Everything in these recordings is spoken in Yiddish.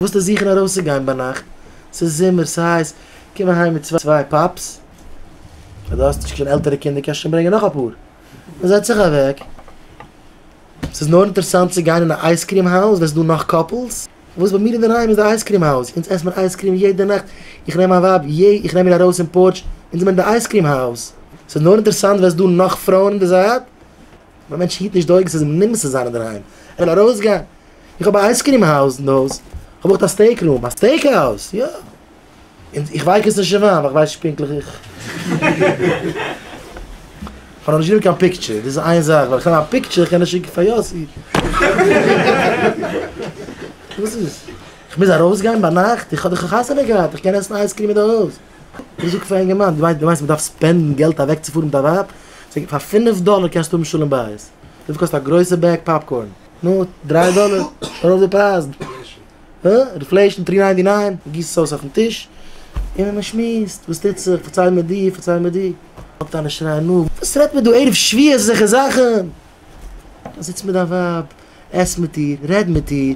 וואס טו זיכן ארויסצוגיין ביינאכט? ס'איז זומער, ס'הייס, קום אהיים מיט צוויי פאפס, אויב דו האסט נישט קיין עלטערע קינדער קענסטו שוין ברענגען נאך אפאר, און זעץ זיך אוועק. ס'איז נאר אינטערעסאנט צו גיין אין א אייזקריעם האוז ווען ס'איז דא נאך קאפלס. וואס ביי מיר אינדערהיים איז די אייזקריעם האוז, אונז עסט מען אייזקריעם יעדע נאכט, איך נעם מיין ווייב, יע, איך נעם איר ארויס אין פארטש, אונז זעמיר אין די אייזקריעם האוז. ס'איז נאר אינטערעסאנט ווען ס'איז דא נאך פרויען אין די זייט. מיין מענטש היט נישט די אויגן ס'איז אים נמאס צו זיין אינדערהיים, ער וויל ארויסגיין, איך האב א אייז קרים הויז אין די הויז, כ'האב אויך א סטעיק רום, א סטעיק האוז, יא, און איך ווייקעס נישט אין וויין ווייל כ'ווייס נישט פונקטליך איך כ'האב נאכנישט גענומען קיין פיקטשער, דאס איז איין זאך, ווען כ'נעם א פיקטשער איך קען עס שיקן פאר יאסי, וואס איז? כ'מוז ארויסגיין ביינאכט? איך האב דאך א חתונה געהאט, איך קען עסן אייז קרים אין די הויז. איך זאג פאר א אינגערמאן, דו מיינסט מען דארף ספענדן געלט אוועקצופארן מיט א ווייב? זאג איך, פאר פינף דאלער קענסטו האבן שלום בית. וויפיל קאסט א גרויסע בעג פאפקארן? נו, דריי דאלער? שוין ארויף די פרייזן. הא? אינפלעישן, טרי ניינטי ניין. מען גיסט עס אויס אויפן טיש און מען שמועסט, וואס טוט זיך, פארצייל מיר די, פארצייל מיר די. פאנגט אן שרייען, נו, וואס רעדט מען דא ערב שביעי אזעלכע זאכן? זיץ מיט דיין ווייב, עס מיט איר, רעד מיט איר,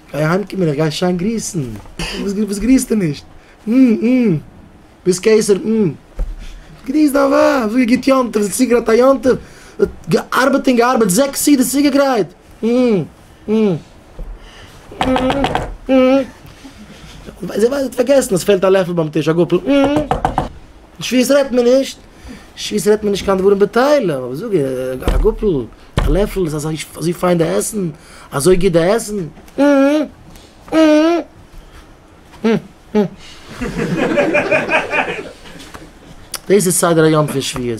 גיי אהיים קומען איך גיי שיין גריסן. וואס גריסטו נישט? מ מ ביז קיסר מ מ גריס דיין ווייב זאג איר גוט יום טוב זי האט צוגעגרייט א יום טוב געארבעט און געארבעט זעקס סעודות צוגעגרייט מ מ מ מ זי ווייסט זי האט פארגעסן עס פעלט א לעפל ביים טיש א גאפל מ מ שפיות רעדט מען נישט. שיס רעדט מען נישט קיין דברים בטלה, אבער זאג איך, א גאפל, א לעפל איז אזוי פיין די עסן, אזוי גוט די עסן, דאס איז סדר היום פון שביעות.